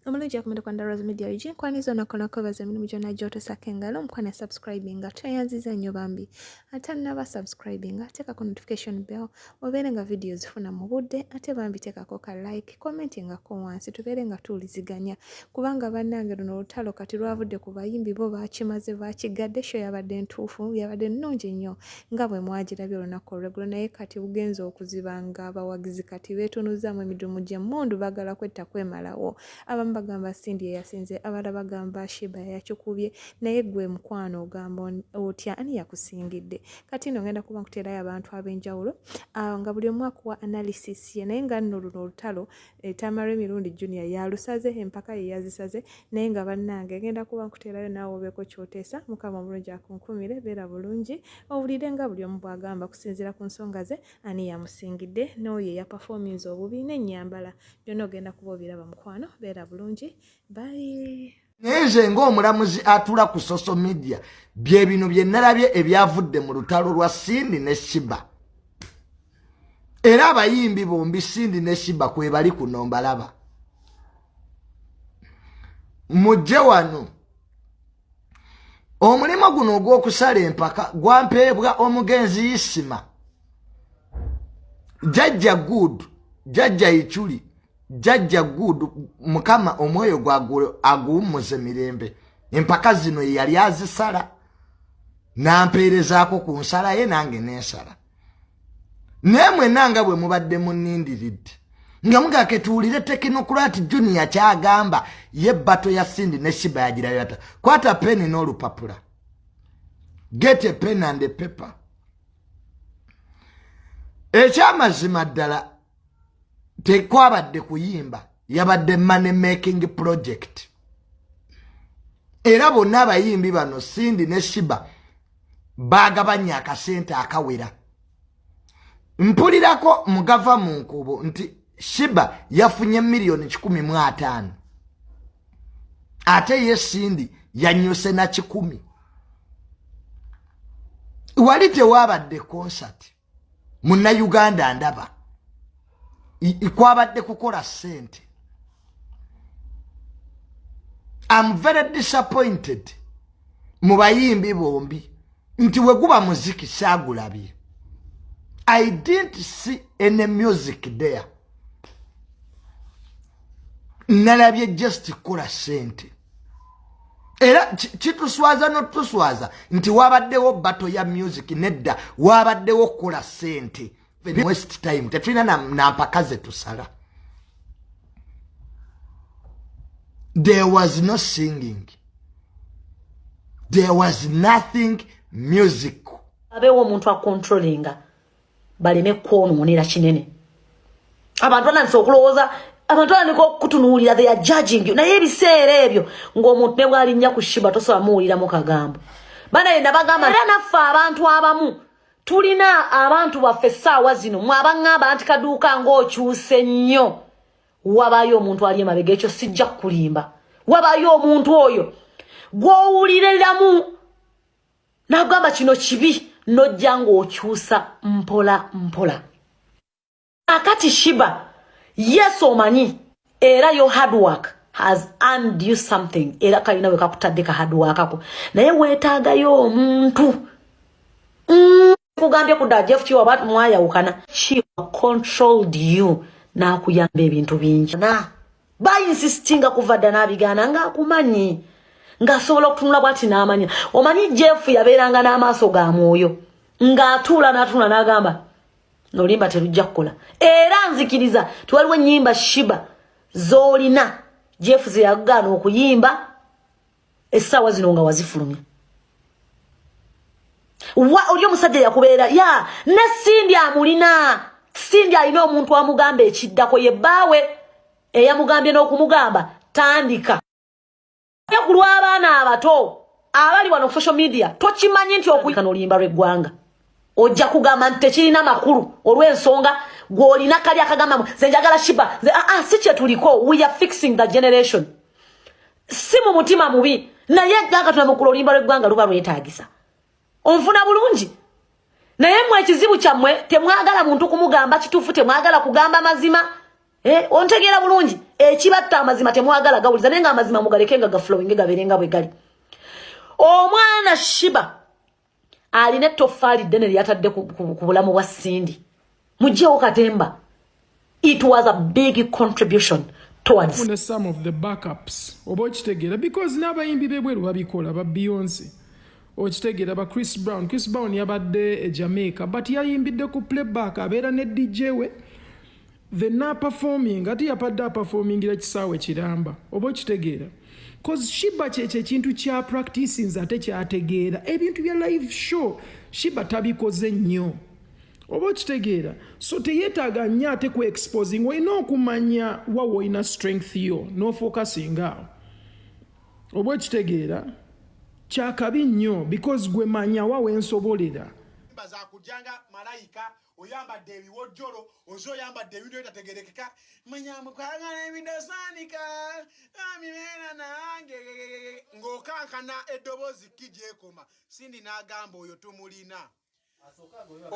omulungi yakumira kwanda rose media ug nkwani zona okola kwebaza emirimu gyonna gyotosako engalo omukwani asubscribinga tweyanziza nnyo bambi ate naba subscribinga teekako notification bell obeere nga vidiyo zifuna mu budde ate bambi teekako ka like komenti ngako wansi tubeere nga tuwuliziganya kubanga bannange luno olutalo kati lwavudde ku bayimbi bo baakimaze baakigadde sho yabadde ntuufu yabadde nnungi nnyo nga bwe mwagirabye olunaku olweggulo naye kati bugenza okuziba nga abawagizi kati beetunuzzaamu emidumu gy'emmundu baagala kwetta kwemalawo abamu bagamba sindi eyasinze abala bagamba shiba yayakikubye naye gwe mukwano ogamba otya ani yakusingidde kati no ngenda kuba nkuteerayo abantu ab'enjawulo ah, nga buli omu akuwa analysis ye naye nga nno luno olutalo eh, tamara emirundi junior yalusaze empaka ye yazisaze naye nga bannange ngenda kuba nkuteerayo naawe obeeko kyoteesa mukama omulungi akunkumire beera bulungi owulire nga buli omu bwagamba kusinziira ku nsonga ze ani yamusingidde n'oyo eyapafominza obubi n'ennyambala byonna ogenda kuba obiraba mukwano beera bulungi bayi naye nze ngaomulamuzi atula ku social media byebino byenalabye ebyavudde mu lutalo lwa sindi ne shiba era abayimbi bombi sindi ne shiba kwebali kuno mbalaba mujje wano omulimu guno ogw'okusala empaka gwampeebwa omugenzi isima jajja good jajja ichuli jajja good mukama omwoyo gwagwe aguwummuze mirembe empaka zino yeyali azisala nampeerezaako ku nsala ye nange nensala naye mwena nga bwe mubadde munindiridde nga mugake tuwulire tekinokulati junior kyagamba ye bato ya sindi ne shiba yagirayota kwata peni n'olupapula get a pen and a paper ekyamazima ddala tekwabadde kuyimba yabadde money making project era bonna abayimbi bano sindi ne shiba bagabanye akasente akawera mpulirako mugava mu nkuubo nti shiba yafunye miliyoni kikumi mu ataano ate ye sindi yanyuse na kikumi wali tewabadde konsati muna Uganda ndaba ikwabadde kukola sente I'm very disappointed mu bayimbi bombi nti weguba muziki sagulabye I didn't see any music there nalabye just kukola sente era kituswaza notuswaza nti wabaddewo bato ya music nedda wabaddewo kukola sente west time tetulina nampaka na zetusala there was no singing there was nothing music abewo omuntu acontrollinga baleme kwonoonera kinene abantu banandisa okulowooza abantu banandika okutunuulira they are judging you naye ebiseera ebyo ng'omuntu ne bwalinnya ku shiba tosobola muwuliramu kagambo bana yena bagamba era naffe abantu abamu tulina abantu baffe essaawa zino mwe abaŋŋamba nti kaduuka ng'okyuse nnyo wabaayo omuntu ali emabega ekyo sijja kukulimba wabaayo omuntu oyo gw'owuliriramu nagamba kino kibi nojja ng'okyusa mpola mpola akati shiba yes omanyi era yo hard work has earned you something era kalina wekakutadde ka hard work ako naye weetaagayo omuntu mm. sikugambye kudda jeff kiwa ba mwayawukana kiwa controlled you nakuyamba ebintu bingi na bayinsistinga kuva dda nabigaana nga akumanyi ng'asobola okutunula bwati n'amanya omanyi jeff yabeeranga n'amaaso ga mwoyo ng'atuula n'atunula n'agamba nolimba terujja kukola era nzikiriza tiwaliwo ennyimba shiba z'olina jeff zeyagaana okuyimba essaawa zino nga wazifulumya wa oli omusajja yakubeera ya ne sindi amulina sindi alina omuntu amugamba ekiddako ye bbaawe eyamugambye n'okumugamba tandika ku lw'abaana abato abali wano social media tokimanyi nti okuyikana oluyimba lw'eggwanga ojja kugamba nti tekirina makulu olw'ensonga gw'olina kali akagambamu ze njagala shiba ze aa ah, ah, si kye tuliko we are fixing the generation si mu mutima mubi naye ganga tunamukula oluyimba lw'eggwanga luba lwetaagisa onfuna bulungi naye mwe ekizibu kyammwe temwagala muntu kumugamba kituufu temwagala kugamba mazima eh, ontegeera bulungi ekibatta amazima temwagala gawuliza naye nga amazima mugaleke nga gafulowinge gabeere nga bwe gali omwana shiba alina ettoffaali ddene lyeyatadde ku bulamu bwa sindi mugyewo katemba it was a big contribution towardfune some of the backups oba okitegeera because n'abayimbi bebweru babikola ba beyonce okitegeera ba chris brown chris brown yabadde e jamaica but yayimbidde ku playback abeera ne dj we the naperforming ate yapadde aperformingira kisaawe kiramba oba okitegeera cause shiba kyekyo ekintu kya practices ate kyategeera ebintu bya live show shiba tabikoze nnyo oba okitegeera so teyetaaga nnyo ate ku exposing olina okumanya wawa olina strength yo nofokasingaao oba okitegeera kyakabi nnyo because gwe manya wawa ensobolera zakujanga malayika oyambadde ebiwojjolo oze oyambadde ebintu ebitategerekeka manyamu kwagala ebintu osaanika amibeera nange ng'okankana eddoboozi ki gyekoma sindi n'agamba oyo tumulina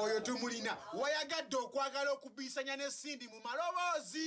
oyo tumulina wayagadde okwagala okubiisanya ne sindi mu maloboozi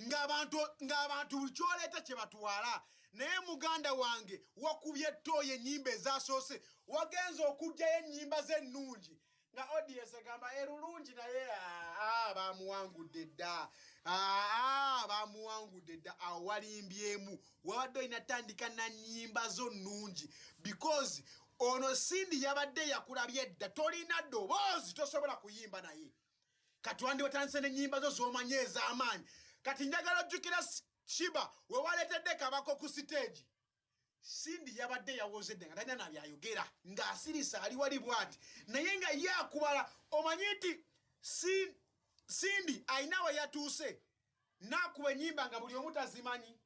ng'abantu ng'abantu buli kyoleeta kye batwala naye muganda wange wakubye ettooyo ennyimba ezasoose wagenza okugjayo ennyimba ze ennungi nga odies egamba erulungi naye aa bamuwangudde dda aa bamuwangudde dda awo walimbyemu wabadde olina tandika na nnyimba zo nnungi because ono sindi yabadde yakulabye dda tolina doboozi tosobola kuyimba naye kati wandi watandise nenyimba zo zomanye ezamaanyi kati njagala ojjukira shiba wewaleetedde kabako ku siteegi sindi yabadde yawoze dde nga talina nabyayogera ng'asirisa ali wali bwati naye nga ye akubala omanyi nti sindi alina we yatuuse naakuba enyimba nga buli omu tazimanyi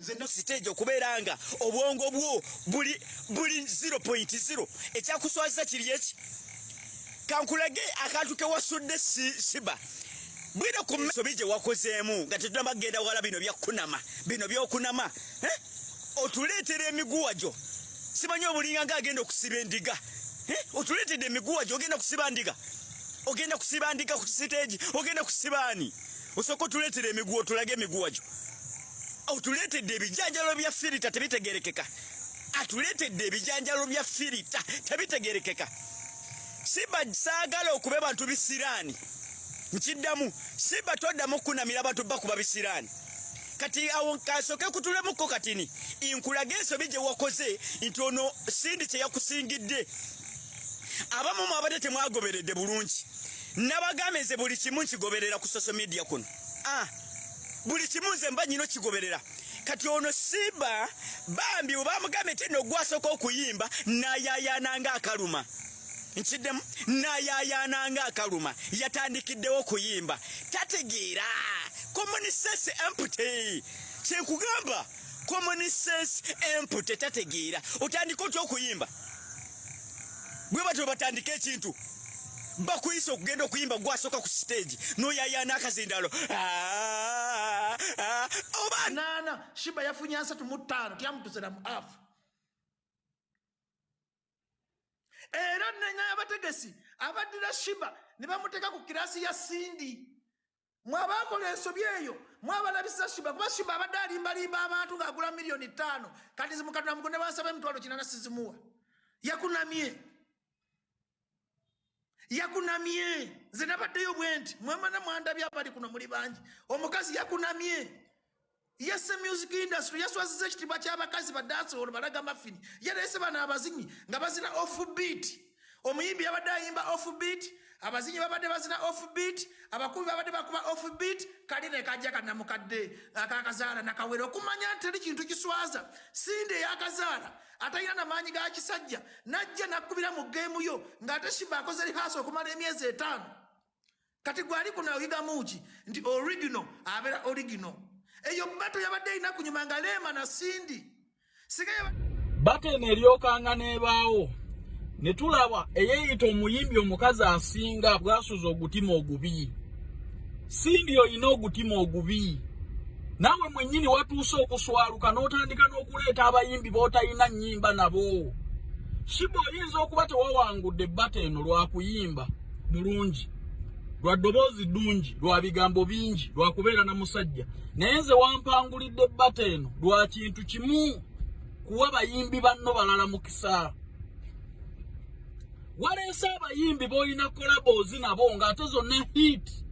nze no stage okubeera nga obwongo bwo buli buli 0.0 ekyakuswaza kiri eki kankulage akantu kewasudde siba bwino ku misobi gye wakozeemu nga tetunaba kugenda wala bino byakunama bino byokunama eh? otuleetera emiguwa gyo simanyi obulinga nga agenda okusiba endiga eh? otuleetedde emiguwa gyo ogenda kusiba ndiga ogenda kusiba ndiga ku siteegi ogenda kusibaani osooka otuleetera emiguwa otulage emiguwa gyo otuleetedde ebijanjalo bya firita tebitegerekeka atuleetedde ebijanjalo bya firita tebitegerekeka siba saagala okube bantu bisiraani nkiddamu siba toddamu okukunamira abantu bakuba bisiraani kati awo kasoke kutulemukko katini inkulage ensobi gye wakoze nti ono sindi kye yakusingidde abamu mwabadde temwagoberedde bulungi nabagambye nze buli kimu nkigoberera ku social media kuno ah, buli kimu nze mba nyino kigoberera kati ono simba bambi webamugambye ti nogwasooka okuyimba nayayana nga akaluma nkiddemu nayayana nga akaluma yatandikiddewo okuyimba tategeera common sense empty kyenkugamba common sense empty tategeera otandika otya okuyimba bwe batyo batandika ekintu bakuyisa okugenda okuyimba gwasooka ku siteegi noyayaana akazindaalo ah, ah, obanaana shiba yafunye asatu mu ttaano tyamutusera mu afu era nenya abategesi abaddira shiba ne bamuteeka ku kirasi ya sindi mwabaakola ensobi eyo mwabalabisa shiba kuba shiba abadde alimbalimba abantu ng'agula miliyoni ttaano kati zimukatula mugo ne bansaba emitwalo kinana sizimuwa yakunamye yakunamye nze nabaddeyo bwe nti mwemana mwandabye abali kuno muli bangi omukazi yakunamye yese music industry yaswaziza ekitiibwa ky'abakazi badansolo balaga mafini yaleese bano abazinyi nga bazina off beat omuyimbi yabadde ayimba off beat abazinyi babadde bazina off beat abakubi babadde bakuba off beat kali ne kajja kanamukadde akakazaala nakawera okumanya nti teri kintu kiswaza sindi eyakazaala atalina na maanyi ga kisajja najja nakubira mu geemu yo ng'ate shiba akoze lihaasa okumala emyezi etaano kati gwali kuno oyigamu ki nti original abeera original eyo bato yabadde erina kunyuma nga leema na sindi bato eno eryokanga n'ebaawo ne tulaba eyeeyita omuyimbi omukazi asinga bwasuza ogutima ogubi sindi olina ogutima ogubi naawe mwennyini watuuse okuswaluka n'otandika n'okuleeta abayimbi b'otalina nnyimba nabo shiba oyinza okuba tewawangudde bato eno lwakuyimba mulungi lwa ddoboozi ddungi lwa bigambo bingi lwa kubeera na musajja naye nze wampangulidde bata eno lwa kintu kimu kuwa bayimbi banno balala mukisa waleese abayimbi b'olina kolaboozi nabo ng'ate zonna hiiti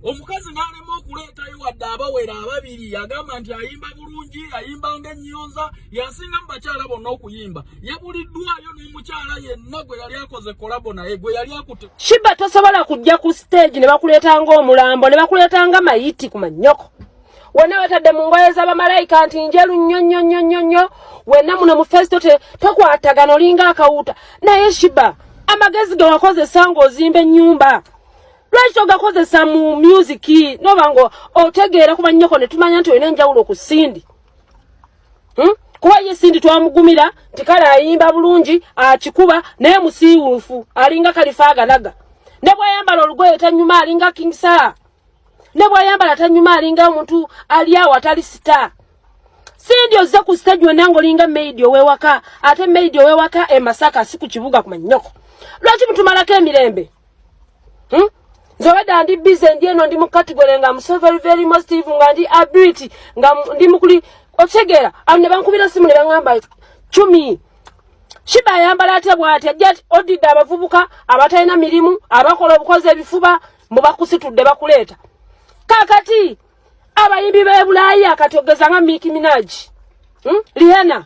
omukazi n'alema okuleetayo wadde abawera ababiri yagamba nti ayimba bulungi ayimba ng'ennyonza yasinga mu bakyala bonna okuyimba yabuliddwayo n'omukyala yenna gwe yali akoze kolabo naye gwe yali akute shiba tosobola kujja ku siteegi ne bakuleeta ng'omulambo ne bakuleeta nga mayiti ku mannyoko wena wetadde mu ngoye z'abamalayika nti njeru nnyo nnyo nnyo nnyo nnyo wena muno mu fesito tokwatagana olinga akawuuta naye shiba amagezi ge wakozesa ng'ozimba ennyumba lwaki togakozesa mu music noba nga otegeera kuba nnyoko ne tumanya nti olina enjawulo ku sindi hmm? kuba ye sindi twamugumira nti kale ayimba bulungi akikuba naye musiiwuufu alinga kalifa agalaga ne bwayambala olugoye tanyuma alinga king sir ne bwayambala tanyuma alinga omuntu ali awo atali sita sindi ozze ku stage wonna ngaolinga maidi owewaka ate maidi owewaka e masaka si ku kibuga ku manyoko lwaki mutumalako emirembe hmm? nze obadde ndi bize ndi eno ndi mu category nga mu so very very positive nga ndi ability nga ndi mukuli okitegera awo ne bankubira simu ne baŋamba cumi shiba ayambala atya bwati ajja odidde abavubuka abatalina mirimu abakola obukozi ebifuba mbu bakusitudde bakuleeta kakati abayimbi b'ebulaaya kati ogeza nga miki minaji hmm? lihena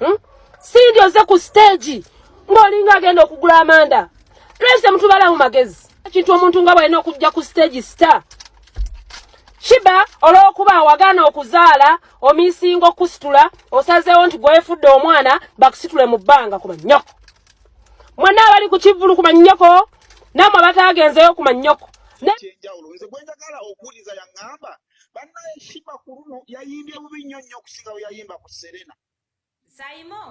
hmm? sindi oze ku stage ng'olinga agenda okugula amanda tulese mutubala mu magezi ekintu omuntu nga bwalina okujja ku stage star shiba olw'okuba awagana okuzaala omisinga okusitula osazeewo nti gwefudde omwana bakusitule mu bbanga ku mannyoko mwena abali ku kivulu ku mannyoko namwe abatagenzeyo ku mannyoko kyenjawulo nze gwenjagala okuwuliza yaŋŋamba banaye shiba ku luno yayimbye bubi nnyo nnyo okusinga bwe yayimba ku serena saimo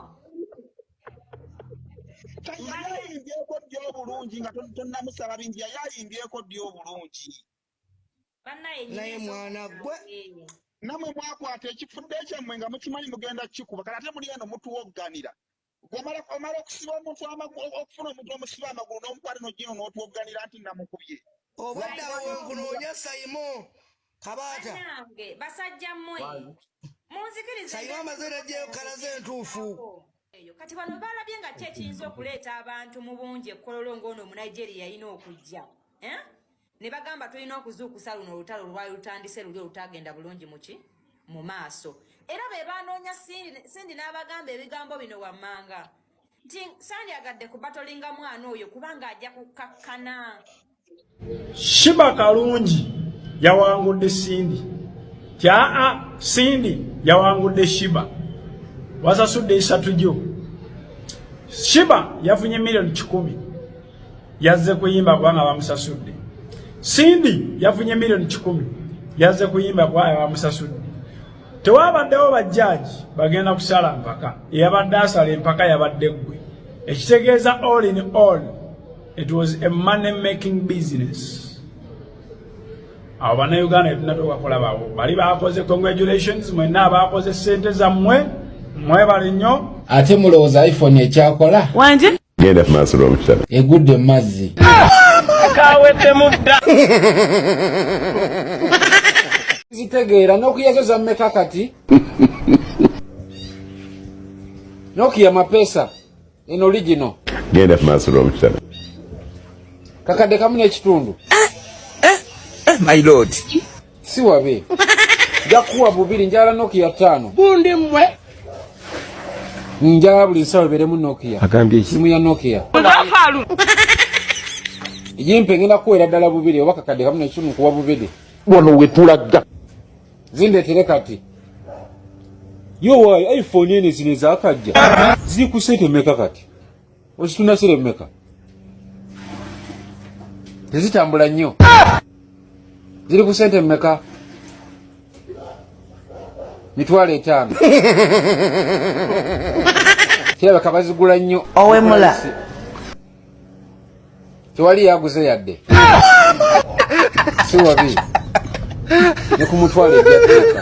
yayayimbyeko ddi obulungi nga tonamusaba bingi yayayimbyeko ddi obulungi naye mwana gwe namwe mwakwata ekifudde ekyammwe nga mukimanyi mugenda kikuba kati ate muli eno mutuwogganira omala omala okusiba omuntu okufuna omuntu omusiba amagulu n'omukwata nojino n'otwogganira nti namukubye obaddawo nkunoonya saimo kabaata nange basajja mmwe munzikirize saimo amaze najjeyo kalaze entuufu eyo kati bano balabye nga ki ekiyinza okuleeta abantu mu bungi ekkololo ng'ono omunigeria yalina okujja eh? ne bagamba tulina okuzuukusa luno olutalo olwali lutandise luli olutagenda bulungi muki mu maaso era be baanoonya sindi n'abagamba ebigambo bino wammanga nti sandyagadde ku batolinga mwana oyo kubanga ajja kukkakkana shiba kalungi yawangudde sindi tyaa sindi yawangudde shiba wasasudde esatu gyo shiba yafunye miliyoni kikumi yazze kuyimba kubanga bamusasudde sindi yafunye miliyoni kikumi yazze kuyimba kubanga bamusasudde tewabaddewo bajjaaji bagenda kusala mpaka eyabadde asala empaka yabadde ggwe ekitegeeza all in all it was a money making business abo banauganda etunatokakola bawo bali bakoze congratulations mwena abakoze sente zammwe mwebali nnyo ate mulowooza iphone ekyakola wanje genda ku maaso lw'omukitabo egudde mu mazzi kaweddemu dda zitegeera nokia zo zammeka kati nokia mapesa en original genda ku maaso lw'omukitabo kakadde kamu n'ekitundu eh, eh, eh, my lord si wabe jakuwa bubiri njala nokia tano bundi mwe njala buli nsawo eberemu nokia agambye simu ya nokia yimpe ngenda kuwera ddala bubiri oba kakadde kamu nekimu kuwa bubiri wano wetulaga zindetere kati yo wayi iphone ene zino ezakajja ziri ku sente meka kati Osituna sire meka. Tezitambula nnyo. Ziri ku sente meka. Mitwalo etaano. Kirabika bazigula nnyo. Owemula. Tewali yaguze yadde. Si wabi. Ne ku mutwalo ejja teeka.